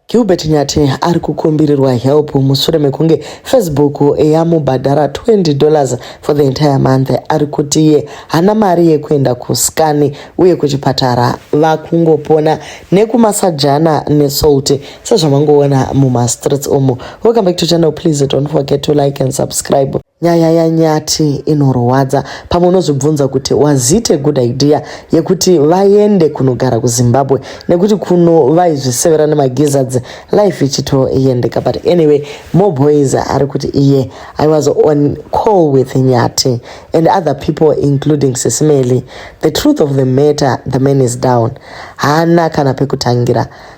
Gilbert Nyati ari kukumbirirwa help mushure mekunge Facebook yamubhadhara 20 dollars for the entire month ari kuti iye hana mari yekuenda kuskani uye kuchipatara vakungopona nekumasajana nesalt sezvamangoona mumastreets umu. Welcome back to channel please don't forget to like and subscribe. Nyaya yaNyati inorwadza. Pamwe unozvibvunza kuti was it a good idea yekuti vaende kunogara kuZimbabwe nekuti kuno vaizvisevera nemagizzards life ichitoyendeka but anyway more boys ari kuti iye I was on call with Nyati and other people including Sisimeli. The truth of the matter the man is down. Haana kana pekutangira.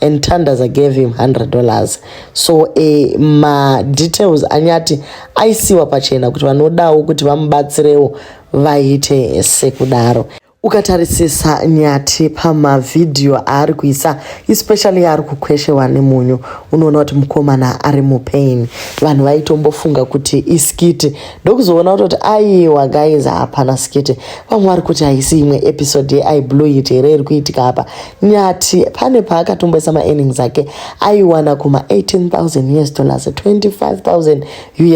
and Tandaza gave him 100 dollars so eh, ma details anyati aisiwa pachena kuti vanodawo kuti vamubatsirewo vaite sekudaro ukatarisisa nyati pamavhidhiyo aari kuisa especially yaari kukweshewa nemunyu unoona kuti mukomana ari mupain vanhu vaitombofunga kuti iskiti ndokuzoona kutoti aiwa guys hapana skiti vamwe vari kuti haisi imwe episode yeiblueit here iri kuitika apa Nyathi pane paakatomboisa maearnings ake aiwana kuma 18000 us dollars 25000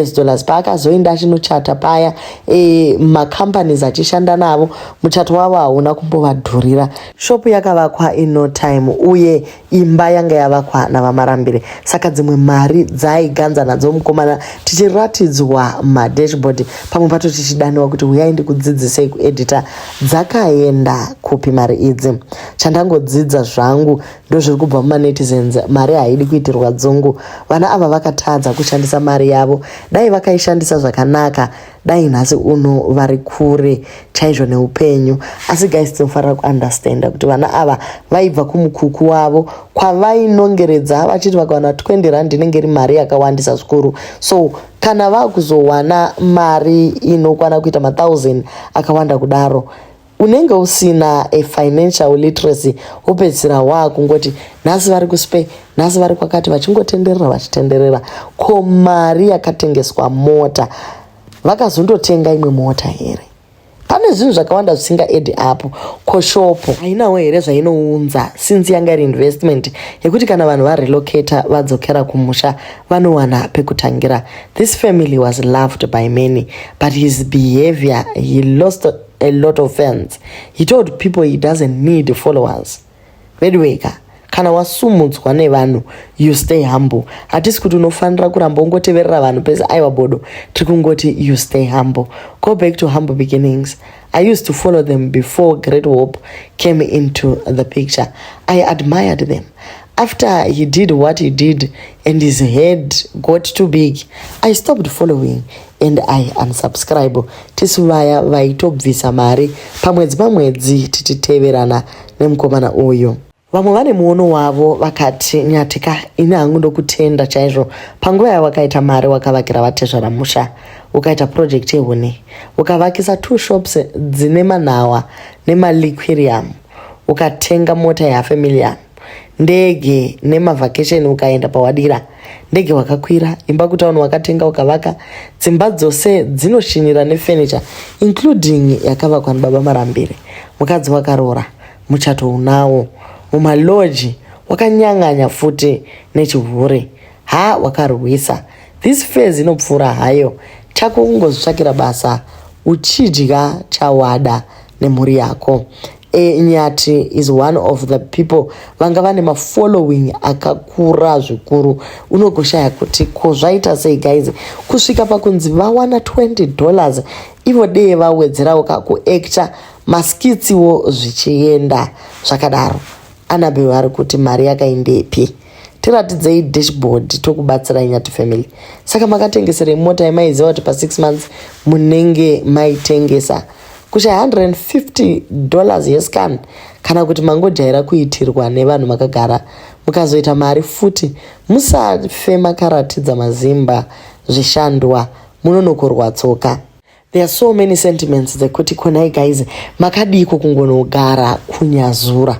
us dollars paakazoenda achinochata paya e, macompanies achishanda navo muchato wavo hauna kumbovadhurira shopu yakavakwa ino time uye imba yanga yavakwa navamarambire saka dzimwe mari dzaiganza nadzo mukomana tichiratidzwa madashboard pamwe pato tichidaniwa kuti huyai ndikudzidzisei kuedita dzakaenda kupi mari idzi chandangodzidza zvangu ndozviri kubva mumanetizens mari haidi kuitirwa dzungu vana ava vakatadza kushandisa mari yavo dai vakaishandisa zvakanaka dai nhasi uno vari kure chaizvo neupenyu asi guys tinofanira kuunderstanda kuti vana ava vaibva kumukuku wavo kwavainongeredza vachiti vakawana 20 rand inenge iri mari yakawandisa zvikuru so kana vakuzowana mari inokwana kuita mathousand akawanda kudaro unenge usina a financial literacy wopedzisira waakungoti nhasi vari kuspe nhasi vari kwakati vachingotenderera vachitenderera ko mari yakatengeswa mota vakazondotenga imwe mota here pane zvinhu zvakawanda zvisinga edi apo ko shopo hainawo here zvainounza since yanga iri investment yekuti kana vanhu varelocata vadzokera kumusha vanowana pekutangira this family was loved by many but his behavior he lost a lot of fans he told people he doesn't need followers veduwee ka kana wasumudzwa nevanhu you stay humble hatisi kuti unofanira kuramba ungoteverera vanhu pese aiwa bodo tiri kungoti you stay humble go back to humble beginnings i used to follow them before great hope came into the picture i admired them after he did what he did and his head got too big i stopped following and i unsubscribe tisu vaya vaitobvisa mari pamwedzi pamwedzi tichiteverana nemukomana uyu vamwe vane muono wavo vakati nyatika ini hangu ndokutenda chaizvo panguva yawakaita mari wakavakira vatezvara musha ukaita purojekti yehuni ukavakisa two shops dzine manhawa nemaliquirium ukatenga mota yafamiliya ndege nemavhakesheni ukaenda pawadira ndege wakakwira imba kutauni wakatenga ukavaka dzimba dzose dzinoshinira nefenicha including yakavakwa nibaba marambire mukadzi wakaroora muchato unawo mumaloji wakanyang'anya futi nechihure ha wakarwisa this faz inopfuura hayo chako kungozvitsvakira basa uchidya chawada nemhuri yako E, nyati is one of the people vanga vane mafollowing akakura zvikuru unogoshaya kuti ko zvaita sei guys kusvika pakunzi vawana 20 dollars ivo dee vawedzerawo kakuacta maskitsiwo zvichienda zvakadaro anabel ari kuti mari yakaindepi tiratidzei dashboard tokubatsirai nyati family saka makatengeserei mota yemaiziva kuti pa6 months munenge maitengesa kucha 150 dollars yescan kana kuti mangojaira kuitirwa nevanhu makagara mukazoita mari futi musafe makaratidza mazimba zvishandwa munonokorwa tsoka there are so many sentiments dzekuti konai guys makadiiko kungonogara kunyazura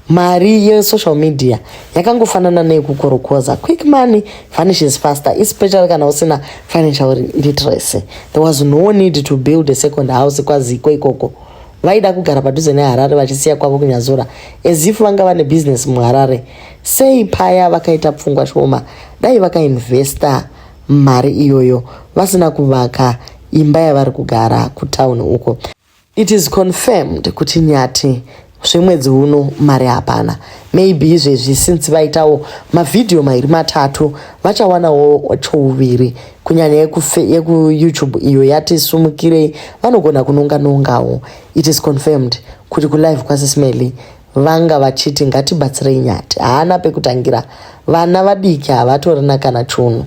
mari yesocial media yakangofanana neyekukorokoza quick money vanishes faster especially kana usina financial literacy there was no need to build a second house kwaziko ikoko vaida kugara padhuze neharare vachisiya kwavo kunyazura ezifu vanga vane bhizinesi muharare sei paya vakaita pfungwa shoma dai vakainvesta mari iyoyo vasina kuvaka imba yavari kugara kutown uko It is confirmed kuti Nyati zvemwedzi uno mari hapana maybe izvezvi since vaitawo mavhidhiyo mairi matatu vachawanawo chouviri kunyanya yekuyoutube iyo yati sumukirei vanogona kunonga nongawo it is confirmed kuti kulive kwasismely vanga vachiti ngatibatsirei nyati haana pekutangira vana vadiki havatorina kana chunhu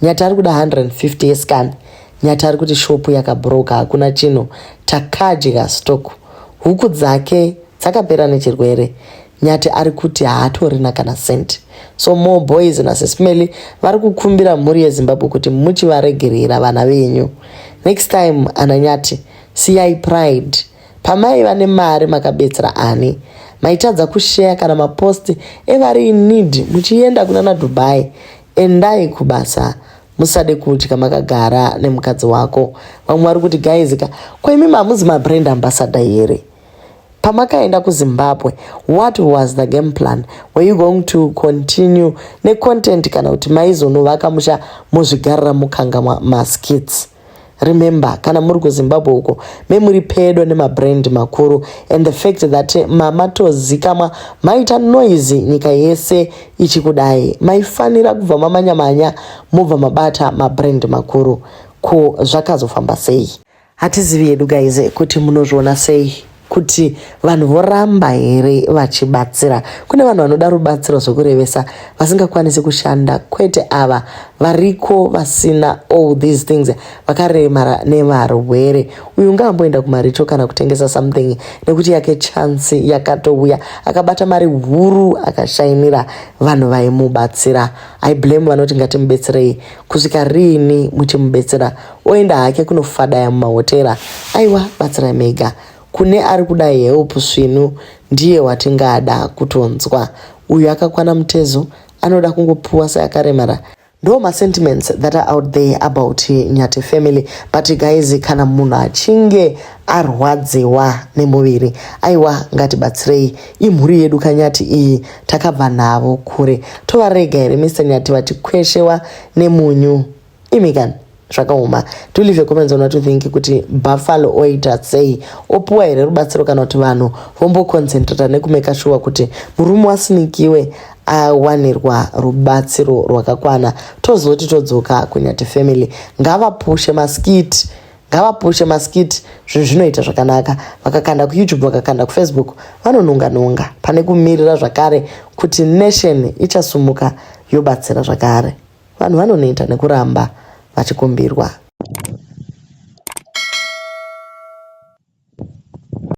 nyati ari kuda 150 yescan nyati ari kuti shopu yakabroka hakuna chinhu takadya stock huku dzake dzakapera nechirwere nyati ari kuti haatorina kana cent so more boys nasesmely vari kukumbira mhuri yezimbabwe kuti muchivaregerera vana venyu next time ana nyati siyai pride pamaiva nemari makabetsera ani maitadza kusheya kana maposti evari inid muchienda kuna nadubai Endai kubasa musade kudya makagara nemukadzi wako vamwe vari kuti guys ka ko imi mamuzi mabrand ambassador here pamakaenda kuzimbabwe what was the game plan were you going to continue necontent kana kuti maizonovaka musha mozvigarira mukangamwa maskits remember kana muri kuzimbabwe uko me muri pedo nemabrand makuru and the fact that mamatozikamwa maita noise nyika yese ichikudai maifanira kubva mamanyamanya mobva mabata mabrand makuru ko zvakazofamba sei hatizivi yedu guys kuti munozviona sei kuti vanhu voramba here vachibatsira kune vanhu vanoda rubatsiro zvokurevesa vasingakwanisi kushanda kwete ava variko vasina all these things vakaremara nevarwere uyu ngaamboenda kumarito kana kutengesa something nekuti yake chansi yakatouya akabata mari huru akashainira vanhu vaimubatsira i blame vanoti ngatimubetserei kusvika riini muchimubetsera oenda hake kunofadaya mumahotera aiwa batsira mega kune ari kuda help svinu ndiye watingada kutonzwa uyu akakwana mutezo anoda kungopuwa seakaremara ndo masentiments that are out there about nyati family but guys kana munhu achinge arwadziwa nemuviri aiwa ngatibatsirei imhuri yedu kanyati iyi takabva navo kure tovarega here mr nyati vachikweshewa nemunyu imi kani zvakaoma to leave a comments on what you think kuti buffalo oita sei opuwa here rubatsiro kana kuti vanhu vomboconcentrata nekumeka shuwa kuti murume wasinikiwe awanirwa rubatsiro rwakakwana tozoti todzoka kunyati family ngavapushe maskiti ngavapushe maskiti zvinhu zvinoita zvakanaka vakakanda kuyoutube vakakanda kufacebook vanonunga nunga pane kumirira zvakare kuti nation ichasumuka yobatsira zvakare Vanhu vanoneta nekuramba vachikumbirwa.